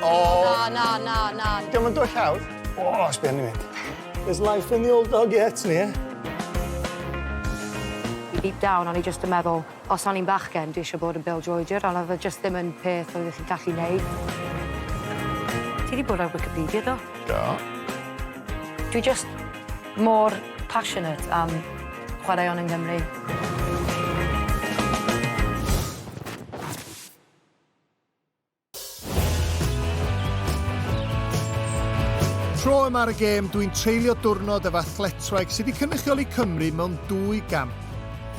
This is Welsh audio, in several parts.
O! Na, na, na, na. Diolch yn dwyll hawdd. O, oh, sbyn i mynd. There's life in the old dog yet, ni, eh? Deep down, o'n i just yn meddwl, os o'n i'n bachgen, dwi eisiau bod yn Bill Georger, ond oedd e just ddim yn peth oedd eich gallu neud. Ti wedi bod ar Wikipedia, do? Do. Dwi just mor passionate am chwaraeon yng Nghymru. Tro yma ar y gêm, dwi'n treulio diwrnod efo athletwraig sydd wedi cynrychioli Cymru mewn dwy gamp.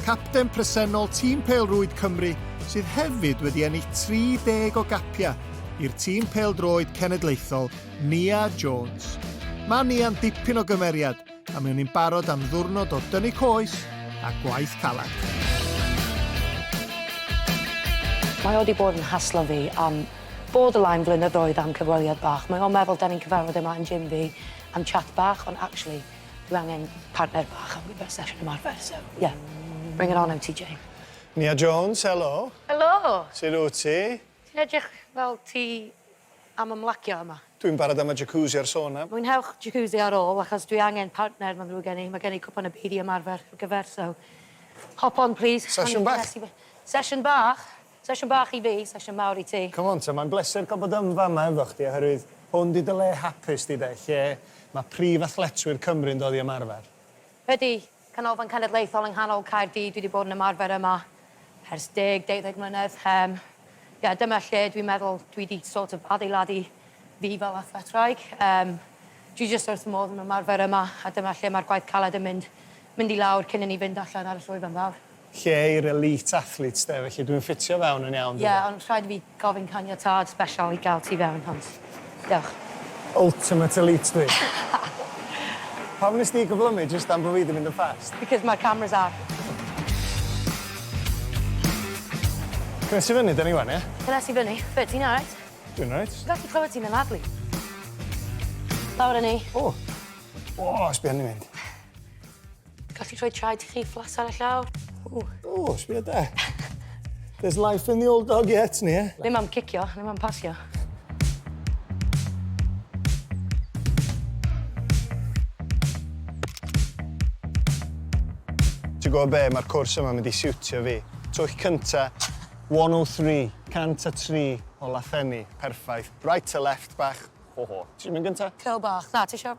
Capten presennol tîm Pêl-rwyd Cymru sydd hefyd wedi ennill 30 o gapiau i'r tîm pêl-droed cenedlaethol, Nia Jones. Mae Nia'n dipyn o gymeriad, a mewn i'n barod am ddwrnod o dynnu coes a gwaith caled. Mae o wedi bod yn haslo fi am borderline flynyddoedd am cyfweliad bach. Mae o'n meddwl da ni'n cyfarfod yma yn gym fi am chat bach, ond actually, dwi angen partner bach am gyfer sesiwn ymarfer, so, yeah. Bring it on, MTJ. Nia Jones, helo. Helo. Sut wyt ti? Ti'n edrych fel ti am ymlacio yma. Dwi'n barod am y jacuzzi a'r sauna. Mwynhewch jacuzzi ar ôl achos dwi angen partner mae'n ddrwg gen i, mae gen i cwpan y byd i ymarfer ar gyfer so hop on plîs. Sesiwn bach? Sesiwn bach. Sesiwn bach i fi, sesiwn mawr i ti. Come on te, mae'n bleser cael bod yn fama efo chdi oherwydd hwn 'di dy le hapus di de, lle mae prif athletwyr Cymru'n dod i ymarfer. Ydi, Canolfan Cenedlaethol yng nghanol Caerdydd, dwi 'di bod yn ymarfer yma ers deg, deuddeg mlynedd, yym ie dyma lle dwi'n meddwl dwi 'di sort of adeiladu fi fel athletwraig, yym dwi jyst wrth fy modd yn ymarfer yma a dyma lle mae'r gwaith caled yn mynd mynd i lawr cyn i ni fynd allan ar y llwyfan fawr. lle i'r elite athletes de, felly dwi'n ffitio fewn yn iawn Ie, ond rhaid i fi gofyn caniatâd sbeshal i gael ti fewn, ond dewch. Ultimate elite dwi. Pam wnest ti cyflymu jyst am bo fi 'di mynd yn fast? Because ma'r cameras ar. Cnes i fyny 'da ni wan ia? Cnes i fyny. Be, ti'n alright? Dwi'n alright. Dwi'n gallu clywed ti'n anadlu. Lawr â ni. O! O! Sbia arni mynd. Gallu rhoi traed chi fflas ar y llaw. O, oh, sbio da. There's life in the old dog yet, ni, eh? Ddim am cicio, ddim am pasio. Ti'n gwybod be, mae'r cwrs yma mynd i siwtio fi. Twch cynta, 103, 103 o Lathenni, perffaith. Right to left bach, ho ho. Ti'n mynd gynta? Cel bach, na, ti eisiau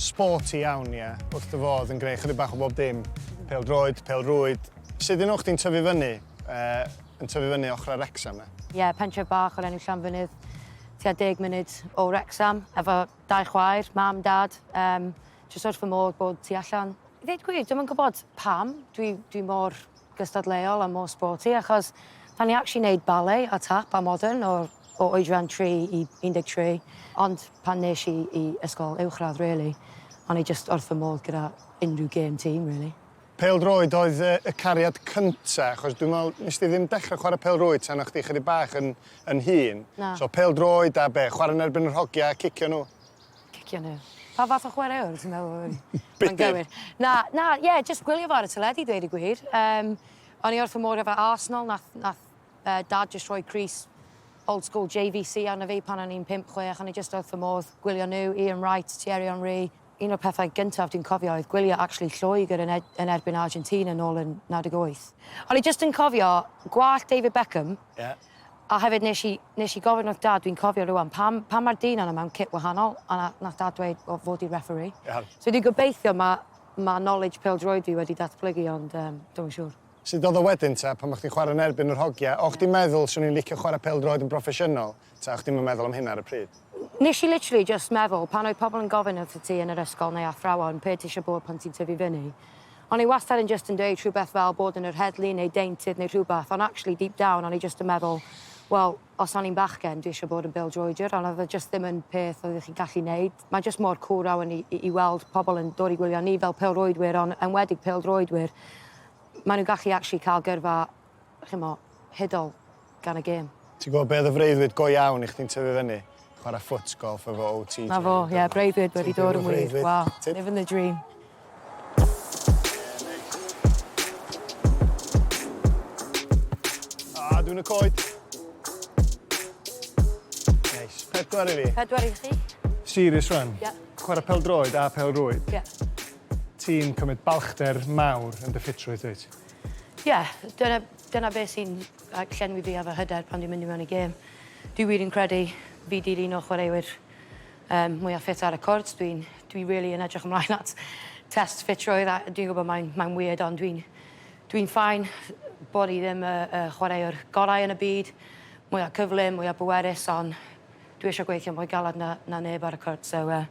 Sporty iawn, ie. Wrth dy fodd yn gwneud chydig bach o bob dim. Pêl-droed, pêl-rwyd. Sut un o chdi'n tyfu fyny, yn tyfu fyny ochrau Wrecsam 'na? Ie, pentref bach o'r enw Llanfynydd, tua deg munud o Wrecsam, efo dau chwaer, mam, dad, yym jyst wrth fy modd bod tu allan. I ddeud gwir, dwi'm yn gwybod pam dwi dwi mor gystadleuol a mor sporty, achos 'dan ni actually neud ballet a tap a modern o'r o oedran tri i 13, ond pan nes i i ysgol uwchradd rili, o'n i jyst wrth fy modd gyda unrhyw gêm tîm rili. Pêl-droed oedd y cariad cynta', achos dwi'n meddwl nes di ddim dechre chwarae pêl-rwyd tan o' chdi chydig bach yn yn hŷn. Na. So pêl-droed a be', chwarae yn erbyn yr hogia a cicio nhw? Cicio nhw. Pa fath o chwaraewr ti'n meddwl oedd yn gywir? Budur. Na, na, ie, jyst gwylio fo ar y teledu dweud y gwir. Yym, o'n i wrth fy modd efo Arsenal, nath nath Yy Dad jyst rhoi crys old school JVC arno fi pan o'n i'n pump, chwech, o'n i jyst wrth fy modd. Gwylio nhw, Ian Wright, Thierry Henry. Un o'r pethau gyntaf dwi'n cofio oedd gwylio actually Lloegr yn ed- yn erbyn Argentina nôl yn 98. O'n i jyst yn cofio gwallt David Beckham. Ie. A hefyd nes i nes i gofyn wrth Dad, dwi'n cofio rŵan, pam pam ma'r dyn yna mewn kit wahanol? A na- nath Dad dweud, wel fo di'r referee. Iawn. So dwi'n gobeithio ma' ma' knowledge pêl-droed fi wedi datblygu ond yym dwi'm yn siŵr. Sut oedd o wedyn ta, pan bo' chdi'n chwarae yn erbyn yr hogia', o' chdi'n meddwl 'swn i'n licio chwarae pêl-droed yn broffesiynol, ta o' chdi'm yn meddwl am hynna ar y pryd? Nes i literally jyst meddwl, pan oedd pobl yn gofyn wrthyt ti yn yr ysgol neu athrawon p'un ti isio bod pan ti'n tyfu fyny, o'n i wastad yn jyst yn dweud rhywbeth fel bod yn yr heddlu neu deintydd neu rhywbeth, ond actually deep down o'n i jyst yn meddwl, wel, os o'n i'n bachgen, dwi isio bod yn bêl-droediwr, ond oedd o jyst ddim yn peth oeddech chi'n gallu neud. Mae jyst mor cŵl rhawn i, i, i weld pobl yn dod i gwylio ni fel pêl-rwydwyr, ond enwedig pêl-droedwyr. Maen nhw'n gallu actually cael gyrfa, chymo, hudol gan y gêm. Ti'n gwybod be oedd y freuddwyd go iawn i chdi'n tyfu fyny? Chwarae ffwtgolff efo OTJ. 'Na fo, ie, breuddwyd wedi dod yn wir. Waw, living the dream. A, dwi'n y coed. Neis. Pedwar i fi. Pedwar i chi. Serious rwan? Ie. Yeah. Chwarae pel droed a pel rwyd? Ie. Yeah. Ti'n cymryd balchder mawr yn dy ffitrwydd, dweud? Ie, yeah, dyna, dyna beth sy'n llenwi fi efo hyder pan dwi'n mynd i mewn i gêm. Dwi wir yn credu fi dilyn o chwaraewyr Yym, mwya ffit ar y cwrt, dwi'n, dwi rili yn edrych ymlaen at test ffitrwydd a dwi'n gwybod mae'n, mae'n weird ond dwi'n, dwi'n ffain bod i ddim y, y chwaraewr gorau yn y byd, mwya cyflym, mwya bwerus ond dwi eisiau gweithio mwy galed na, na neb ar y cwrt so yy,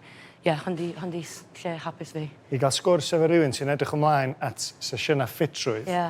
ie, hwn di, hwn di lle hapus fi. I gael sgwrs efo rywun sy'n edrych ymlaen at sesiynau ffitrwydd. Ie.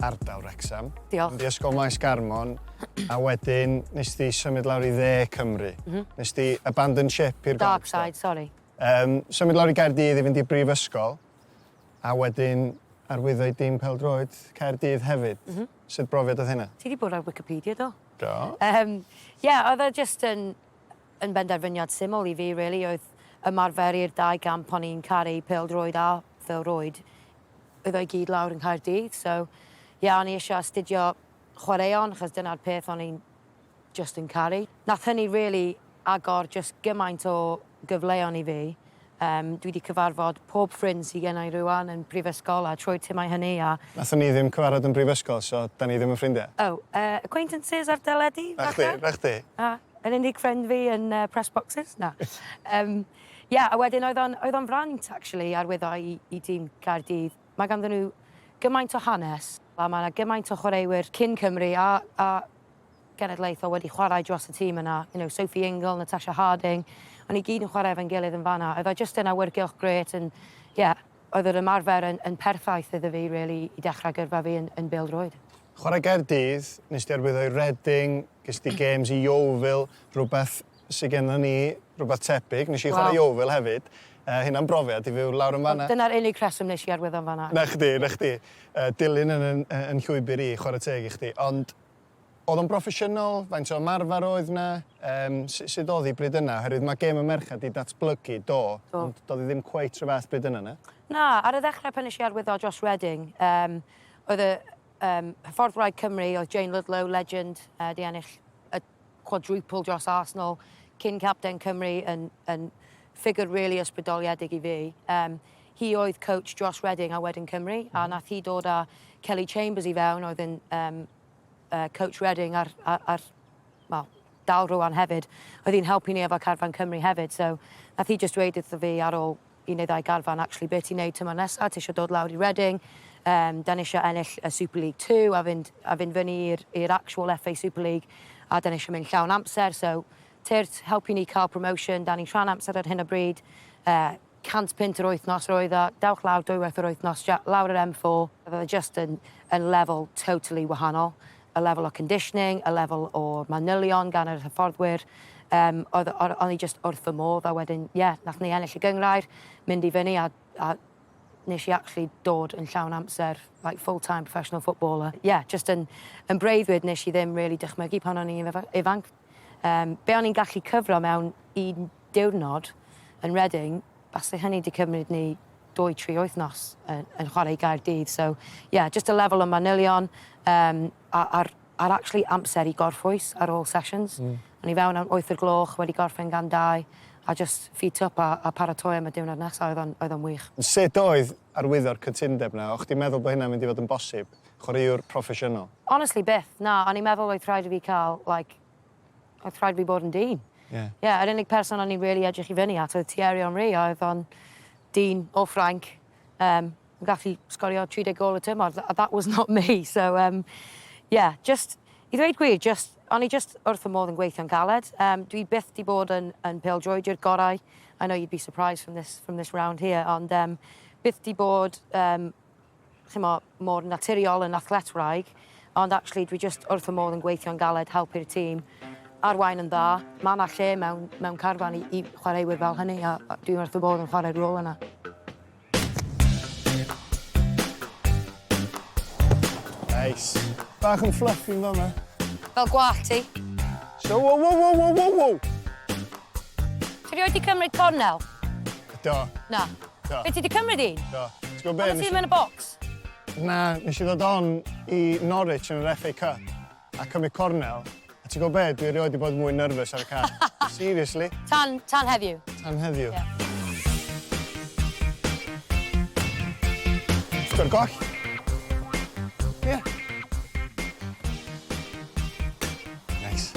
ardal Wrecsam. Diolch. Mynd i Ysgol Maes Garmon, a wedyn nes di symud lawr i dde Cymru. Mm -hmm. Nes di abandon ship i'r Dark side, sorry. Um, symud lawr i Gaerdydd i fynd i brifysgol, a wedyn arwyddo i dim peldroed Caerdydd hefyd. Mm -hmm. Sut brofiad oedd hynna? Ti wedi bod ar Wikipedia, do? Do. Um, yeah, oedd o just yn... Yn benderfyniad syml i fi rili oedd ymarfer i'r dau gamp o'n i'n caru, pêl-droed a phêl-rwyd. Oedd o i gyd lawr yng Nghaerdydd so ie o'n i isio astudio chwaraeon achos dyna'r peth o'n i'n jyst yn caru. Nath hynny rili agor jyst gymaint o gyfleon i fi. Yym, dwi 'di cyfarfod pob ffrind sy genna i rŵan yn brifysgol a trwy'r timau hynny a... Nathon ni ddim cyfarfod yn brifysgol so 'dan ni ddim yn ffrindiau. O, yy, acquaintances ar deledu, falle? 'Na chdi, 'na chdi. A, yn unig ffrind fi yn yy press boxes? Na. Yym, ie, a wedyn oedd o'n, oedd o'n fraint actually arwyddo i i dîm Caerdydd. Mae ganddyn nhw gymaint o hanes a ma' 'na gymaint o chwaraewyr cyn Cymru a a genedlaethol wedi chwarae dros y tîm yna, you know, Sophie Ingle, Natasha Harding, o'n ni gyd yn chwarae efo'n gilydd yn fan'na, oedd o jyst yn awyrgylch grêt and yeah, oedd yr ymarfer yn, yn perffaith iddo fi really i dechrau gyrfa fi yn, yn bêl-droed. Chwarae Gaerdydd, nes di arwyddo i Reading, ges di games i Yeovil, rhywbeth sydd gennym ni, rhywbeth tebyg, nes i chwarae Yeovil hefyd, uh, hynna'n brofiad i fyw lawr yn fanna. Dyna'r unig rheswm nes i arwyddo yn fanna. Na chdi, na chdi. Uh, dilyn yn, yn, yn llwybr i, chwarae teg i chdi, ond Oedd o'n broffesiynol? Faint o ymarfer oedd 'na? Yym, su- sut oedd 'i bryd yna? Oherwydd mae gêm y merched 'di datblygu, do, Do. ond doedd 'i ddim cweit 'run fath bryd yna, na? Na, ar y ddechrau pan nes i arwyddo Josh Redding, yym, oedd y yym hyffordd wraig Cymru oedd Jane Ludlow, legend, yy, 'di ennill y quadruple dros Arsenal, cyn-capten Cymru, yn yn ffigur rili ysbrydoliedig i fi. Yym, Hi oedd coach dros Reading a wedyn Cymru, a wnaeth hi dod â Kelly Chambers i fewn oedd yn um, uh, coach Reading ar, ar, ar well, dal rwan hefyd. Oedd hi'n helpu ni efo carfan Cymru hefyd, so nath hi just dweud wrtho fi ar ôl i neu ddau garfan, actually, beth ti'n neud tymor nesaf, ti eisiau dod lawr i Reading, um, da ni eisiau ennill y Super League 2 a fynd, a fynd fyny i'r actual FA Super League, a da ni eisiau mynd llawn amser, so tyrd helpu ni cael promotion, da ni'n rhan amser ar hyn o bryd, uh, 100 punt yr wythnos roedd o, dewch lawr dwywaith yr wythnos ja- lawr yr M four, roedd o jyst yn yn lefel totally wahanol, y lefel o conditioning, y lefel o manylion gan yr hyfforddwyr, yym oedd o- o'n i jyst wrth fy modd a wedyn ie, nath ni ennill y gynghrair, mynd i fyny a a nes i actually dod yn llawn amser like full time professional footballer, ie jyst yn yn breuddwyd nes i ddim rili dychmygu pan o'n i'n ifanc. Yym, be o'n i'n gallu cyfro mewn un diwrnod yn Reading, basai hynny 'di cymryd ni dwy, tri wythnos yn, yn chwarae i Gaerdydd. So, ie, yeah, just y lefel o manylion um, a'r, a'r actually amser i gorffwys ar ôl sessions. Mm. O'n i fewn am wyth o'r gloch, wedi gorffen gan dau, a just feet up a, a paratoi am y diwrnod nesaf, oedd o'n, oedd o'n wych. Sut oedd arwyddo'r cytundeb na? O'ch ti'n meddwl bod hynna'n mynd i fod yn bosib? Chwaraewr proffesiynol? Honestly byth, na, o'n i'n meddwl oedd rhaid i fi cael like, oedd rhaid i fi bod yn dyn. Ie. Ie, yr unig person o'n i'n rili edrych i fyny at oedd Thierry Henry a oedd o'n dyn o Ffrainc yym yn gallu sgorio 30 gôl y tymor a that was not me so yym ie, jyst i ddweud gwir jyst o'n i jyst wrth fy modd yn gweithio'n galed. Yym dwi byth 'di bod yn yn pêl-droediwr gorau. I know you'd be surprised from this from this round here ond yym byth 'di bod yym chimo, mor naturiol yn athletwraig, ond actually dwi jyst wrth fy modd yn gweithio'n galed, helpu'r tîm, arwain yn dda. Mae 'na lle mewn, mewn carfan i, i chwaraewyr fel hynny, a, a dwi wrth fy modd yn chwarae'r rôl yna. Nice. Bach yn fluffy yn fanna. Fel gwall ti. So, wow, wow, wow, wow, wow, wow! Ti rioed di cymryd cornel? Do. Na. Do. Be' ti 'di cymryd i? Do. Ti gwbo be'... Pam o' ti'm yn y bocs? Na, nesh i ddod on i Norwich yn yr FA Cup a cymryd cornel, a ti gwbo be', dwi erioed 'di bod mwy nervous ar y car. Seriously. Tan, tan heddiw. Tan heddiw. Ie. Sgor goll. Ie. Neis.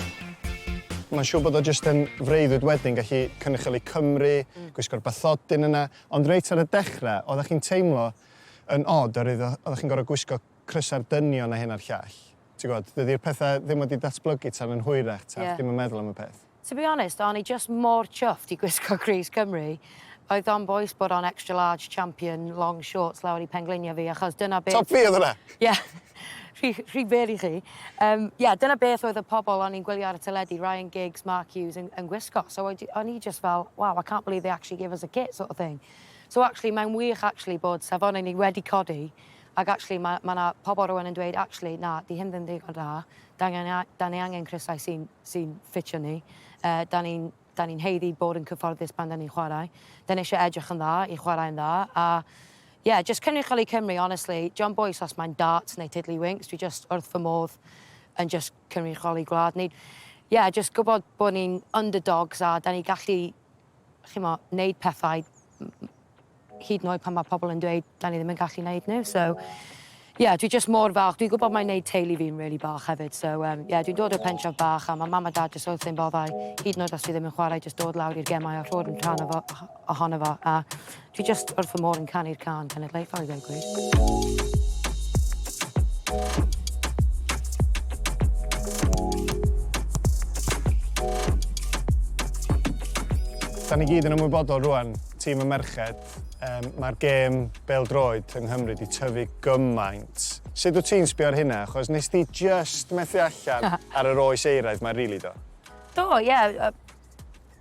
Mae'n siŵr bod o jyst yn freuddwyd wedyn gallu cynrychioli Cymru, gwisgo'r bathodyn yna, ond reit ar y dechrau, oeddech chi'n teimlo yn od oherwydd oeddech chi'n gorfod gwisgo crysau'r dynion a hyn a'r llall. Ti'n gwybod, dydy'r pethau ddim wedi datblygu tan yn hwyrach, ta chdi'm yn meddwl am y peth? To be honest o'n i jyst mor chuffed i gwisgo Grace Cymru. Oedd o'n bois bod o'n extra large champion long shorts lawr i pengliniau fi achos dyna beth... Top fi oedd hwnna! Ie. Rhy rhy bell i chi. Yym ie dyna beth oedd y pobl o'n i'n gwylio ar y teledu, Ryan Giggs, Mark Hughes yn yn gwisgo so oedd o'n i jyst fel wow I can't believe they actually gave us a kit sort of thing. So actually mae'n wych actually bod safonau ni wedi codi Ac actually, mae 'na pobl rŵan yn dweud, actually, na, 'di hyn ddim digon da, 'dan ni angen crysau sy'n ffitio ni, 'dan ni'n haeddu bod yn cyfforddus pan 'dan ni'n chwarae, 'dan ni eisiau edrych yn dda i chwarae'n dda, a ie, jyst cynrychioli Cymru, honestly, dio'm bwys os mae'n darts neu tiddlywinks, dwi jyst wrth fy modd yn jyst cynrychioli gwlad ni. Ie, jyst gwybod bod ni'n underdogs a 'dan ni'n gallu chi'mo, neud pethau m- m- hyd yn oed pan mae pobl yn dweud 'dan ni ddim yn gallu neud nhw so ie yeah, dwi jyst mor falch. Dwi'n gwybod mae'n neud teulu fi'n really bach hefyd so um, yeah, dwi'n dod o'r pentref bach a mae mam a dad jyst wrth ein boddau hyd yn oed os dwi ddim yn chwarae jyst dod lawr i'r gemau a rho'r yn rhan o fo, ohono fo a Dwi jyst wrth fy modd yn canu'r cân cenedlaethol i ddweud gwir. Da ni gyd yn ymwybodol rwan, tîm y merched, um, mae'r gêm bel droed yng Nghymru wedi tyfu gymaint. Sut wyt ti'n sbio ar hynna? Achos nes ti just methu allan ar yr oes eiraidd mae'n rili really do? Do, ie. Yeah.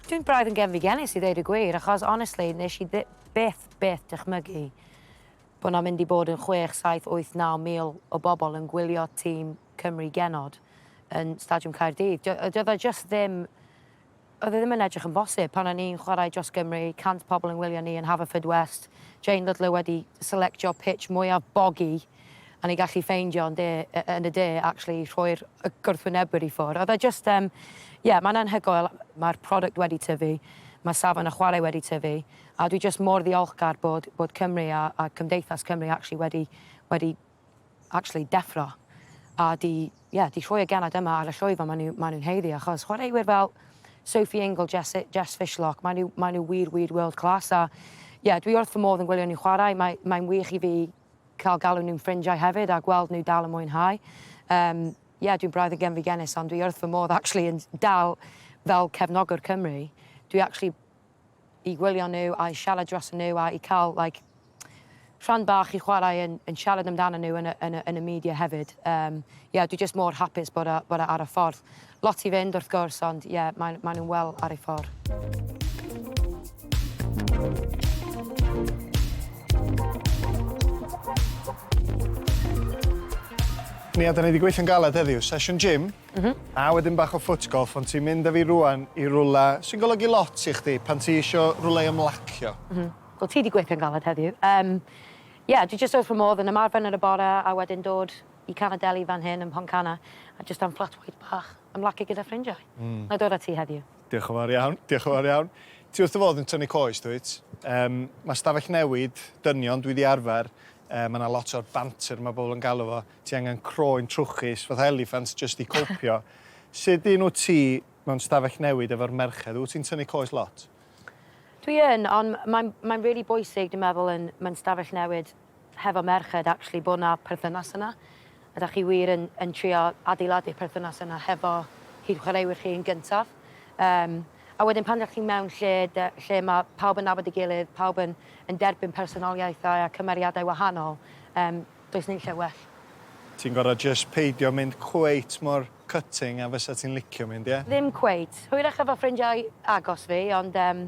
Dwi'n braidd yn gefndigelus i ddeud y gwir, achos honestly, nes i ddi- byth, byth dychmygu bod 'na mynd i bod yn chwech, saith, wyth, naw mil o bobl yn gwylio tîm Cymru genod yn Stadiwm Caerdydd. Dio- Doedd o jyst ddim, oedd e ddim yn edrych yn bosib pan o'n i'n chwarae dros Gymru, 100 pobl yn wylio ni yn Haverfordwest, Jane Ludlow wedi selectio pitch mwyaf bogi, a ni gallu ffeindio yn de yy yn y de actually rhoi'r y gwrthwynebwyr i ffwr'. Oedd e jyst yym ie mae'n anhygoel, mae'r product wedi tyfu, mae safon y chwarae wedi tyfu, a dwi jyst mor ddiolchgar bod bod Cymru a a cymdeithas Cymru actually wedi wedi actually deffro a 'di ie 'di rhoi y genod yma ar y llwyfan ma' nhw ma' nhw'n haeddu achos chwaraewyr fel Sophie Ingle, Jess Jess Fishlock ma' nhw ma' nhw wir wir world class a ie dwi wrth fy modd yn gwylio nhw chwarae mae mae'n wych i fi cael galw nhw'n ffrindiau hefyd a gweld nhw dal yn mwynhau. Yym, ie, dwi'n braidd yn genfigennus ond dwi wrth fy modd actually yn dal fel cefnogwr Cymru. Dwi actually i gwylio nhw a i siarad dros nhw a i cael like, rhan bach i chwarae yn, yn siarad amdano nhw yn y, yn y, yn y media hefyd. Um, yeah, dwi just mor hapus bod e, bod e ar y ffordd. Lot i fynd wrth gwrs ond ie mae mae nhw'n wel ar ei ffor. Nia, da ni wedi gweithio'n galed heddiw. Sesiwn gym, mm -hmm. a wedyn bach o foot golf, ond ti'n mynd â fi rwan i rwla sy'n golygu lot i chdi pan ti isio rwle i ymlacio. Mm -hmm. Wel, ti wedi gweithio'n galed heddiw. Um, Ie, yeah, dwi jyst wrth fy modd yn ymarfer yn y bore a wedyn dod i canol deli fan hyn ym Mhontcanna a jyst am flat white bach ymlacu gyda ffrindiau. Mm. Na i dod at ti heddiw. Diolch yn fawr iawn, diolch yn fawr iawn. Ti wrth dy fodd yn tynnu coes, dwyt? Um, mae stafell newid, dynion, dwi di arfer, um, mae yna lot o'r banter mae bobl yn galw fo, ti angen croen trwchus, fatha eliffant, jyst i copio. Sut un wyt ti mewn stafell newid efo'r merched? Wyt ti'n tynnu coes lot? Dwi yn, ond mae'n mae really bwysig, dwi'n meddwl, yn, mae'n stafell newid hefo merched actually bod yna perthynas yna a dach chi wir yn yn trio adeiladu'r perthynas yna hefo chi'ch chwaraewyr chi yn gyntaf um, a wedyn pan dach chi mewn lle de, lle mae pawb yn nabod ei gilydd, pawb yn, yn derbyn personoliaethau a cymeriadau wahanol, um, does ni'n lle well. Ti'n gorau just peidio mynd cweit mor cutting a fysa ti'n licio mynd, ie? Ddim cweit. Hwyrach efo ffrindiau agos fi, ond um,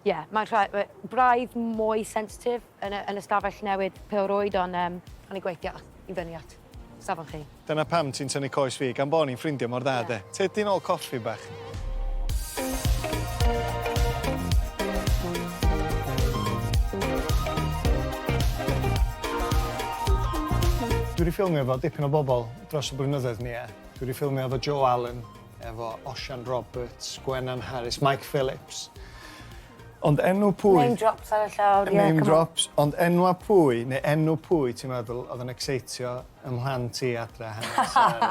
Ie, mae'n rha- we- braidd mwy sensitif yn y, yn y stafell newid pêl-rwyd, ond um, o'n i'n gweithio i fyny at safon chi. Dyna pam ti'n tynnu coes fi, gan bo ni'n ffrindio mor dda, de. Tyd ti'n ôl coffi bach. Dwi 'di ffilmio efo dipyn o bobl dros y blynyddoedd, Nia. Dwi 'di ffilmio efo Joe Allen, efo Osian Roberts, Gwenan Harris, Mike Phillips. Ond enw pwy... Name drops ar y llawr, ie, come on. Name drops, ond enwa pwy, neu enw pwy ti'n meddwl oedd yn exeitio ym mhlant i adre hanner Sara?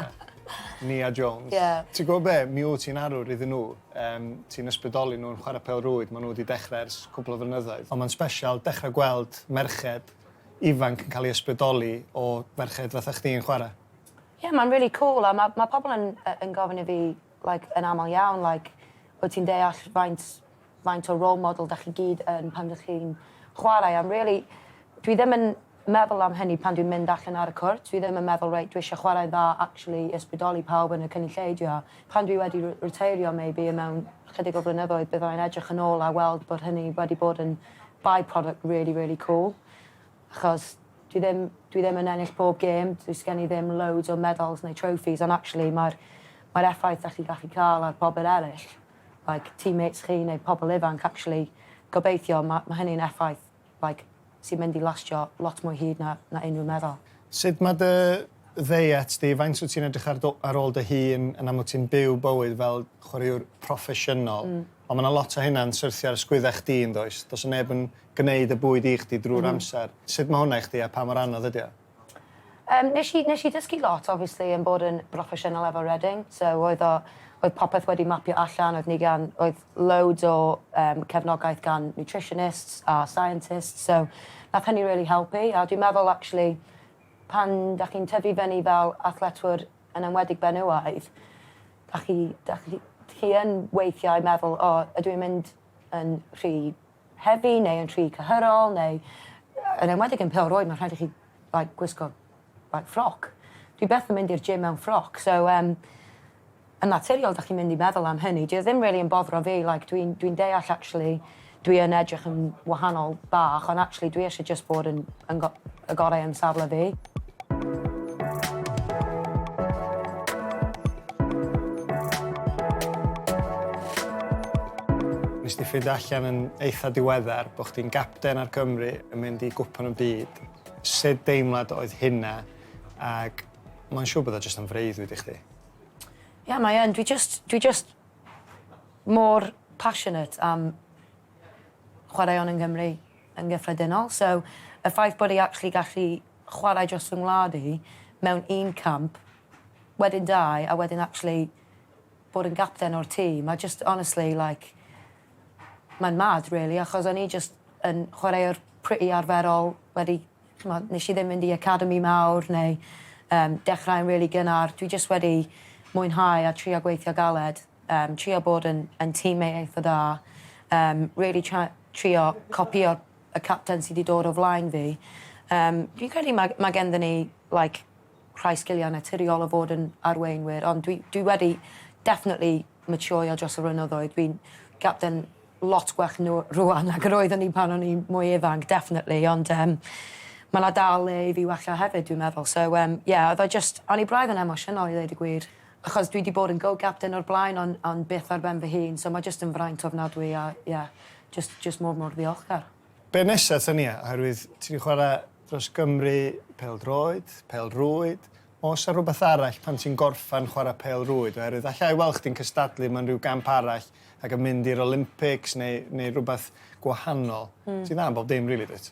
Nia Jones. Ie. Ti'n gwybod be, mi wyt ti'n arwr iddyn nhw. Yym, ti'n ysbrydoli nhw yn chwarae pêl-rwyd, maen nhw wedi dechrau ers cwpl o flynyddoedd. Ond mae'n special dechrau gweld merched ifanc yn cael ei ysbrydoli o ferched fatha chdi yn chwarae. Ie ma'n rili cŵl a ma' ma' pobol yn yy yn gofyn i fi like yn amal iawn like wyt ti'n deall faint faint o role model 'dach chi gyd yn pan dych chi'n chwarae a rili dwi ddim yn meddwl am hynny pan dwi'n mynd allan ar y cwrt dwi ddim yn meddwl reit dwi isie chwarae'n dda actually i ysbrydoli pawb yn y cynulleidfa. Pan dwi wedi r- riteirio maybe yn mewn chydig o flynyddoedd byddai'n edrych yn ôl a weld bod hynny wedi bod yn by-product rili rili cŵl achos Dwi ddim, dwi ddim yn ennill pob gêm, does gen i ddim loads o medals neu trophies, ond actually mae'r, mae'r effaith da chi'n gallu cael ar pobl eraill, like, teammates chi neu pobl ifanc, actually, gobeithio, mae, mae hynny'n effaith, like, sy'n mynd i lastio lot mwy hyd na, na unrhyw medal. Sut mae dy ddeiet di, faint wyt ti'n edrych ar, ar ôl dy hun, yn amlwg ti'n byw bywyd fel chwaraewr proffesiynol, mm. ond mae yna lot o hynna'n syrthio ar ysgwyddau chdi yn does, does neb yn gwneud y bwyd i chdi drwy'r amser. Sut mae hwnna i chdi a pa mor anodd ydy o? Yym nes i nes i dysgu lot obviously yn bod yn broffesiynol efo Reading so oedd o oedd popeth wedi mapio allan oedd ni gan oedd loads o yym cefnogaeth gan nutritionists a scientists so nath hynny rili helpu a dwi'n meddwl actually pan dach chi'n tyfu fyny fel athletwr yn enwedig benywaidd dach chi dach chi chi yn weithiau meddwl o ydw i'n mynd yn rhy hefi neu yn rhy cyhyrol neu yn enwedig yn pêl roed mae'n rhaid i chi like gwisgo like ffroc. Dwi byth yn mynd i'r gym mewn ffroc so um, yn naturiol da chi'n mynd i meddwl am hynny. Dwi e ddim really yn boddro fi like dwi'n dwi deall actually dwi yn edrych yn wahanol bach ond actually dwi eisiau just bod yn yn Y gorau yn safle fi. Nes di ffeindio allan yn eitha diweddar bod chdi'n gapten ar Gymru yn mynd i gwpan y byd. Sut deimlad oedd hynna ac mae'n siŵr bod o jyst yn freuddwyd i chdi? Ie, yeah, mae yn. Dwi just, dwi just mor passionate am chwaraeon yn Gymru. yn gyffredinol. So, y ffaith bod e actually gallu chwarae dros fy ngwlad i mewn un camp, wedyn dau, a wedyn actually bod yn gapten o'r tîm, a just honestly, like, mae'n mad, really, achos o'n i just yn chwaraewr pretty arferol, wedi, chymod, nes i ddim mynd i academi mawr, neu um, dechrau'n really gynnar. Dwi just wedi mwynhau a trio gweithio galed. Yym trio bod yn yn tîm mate eitha da. Yym rili tra- trio copïo y capten sy 'di dod o flaen fi. Yym fi'n credu ma' ma' genddyn ni like rhai sgilia naturiol o fod yn arweinwyr ond dwi dwi wedi definitely maturio dros y flynyddoedd. Dwi'n gapten lot gwell n'w rŵan nag yr oeddwn i pan o'n i'n mwy ifanc definitely ond yym ma' 'na dal le i fi wella hefyd dwi'n meddwl so yym ie oedd o jyst o'n i braidd yn emosiynol i ddeud y gwir Achos dwi 'di bod yn go-captain o'r blaen on- ond byth ar ben fy hun so mae jyst yn fraint ofnadwy a ie, jyst jyst mor mor ddiolchgar. Be nesa Tania, oherwydd ti 'di chwarae dros Gymru, pêl-droed, pêl-rwyd, oes 'na rhywbeth arall pan ti'n gorffan chwarae pêl-rwyd oherwydd alla i weld chdi'n cystadlu mewn rhyw gamp arall ac yn mynd i'r Olympics neu neu rhywbeth gwahanol. Ti'n dda yn bob dim rili dwyt?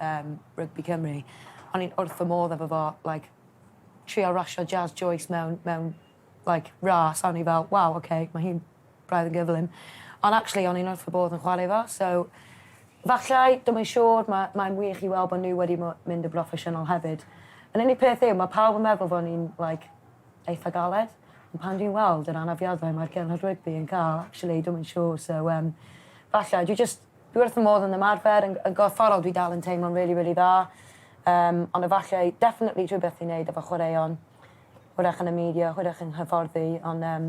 yym rygbi Cymru. O'n i'n wrth fy modd efo fo like trio rasio Jazz Joyce mewn mewn like ras a o'n i fel waw oce ma' hi'n braidd yn gyflym. Ond actually o'n i'n wrth fy bodd yn chware fo so fallai, dwi'm yn siŵr ma' mae'n wych i weld bo' n'w wedi mo- mynd yn broffesiynol hefyd. Yr unig peth yw ma' pawb yn meddwl bo' ni'n like eitha galed ond pan dwi'n weld yr anafiadau mae'r genod rygbi yn ca'l actually dwi'm yn siŵr so yym fallai dwi jyst Dwi wrth fy modd yn ymarfer, yn yn gorfforol dwi dal yn teimlo'n rili rili dda yym ond efallai definitely rhywbeth i neud efo chwaraeon. Hwyrach yn y media, hwyrach yn hyfforddi ond yym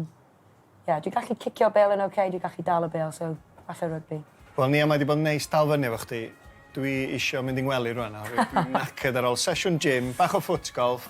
ie dwi gallu cicio bêl yn ok, dwi gallu dal y bêl so falle rygbi. Wel Nia mae 'di bod yn neis dal fyny efo chdi. Dwi isio mynd i ngwely rŵan nawr dwi'n knackered ar ôl sesiwn gym, bach o foot golf.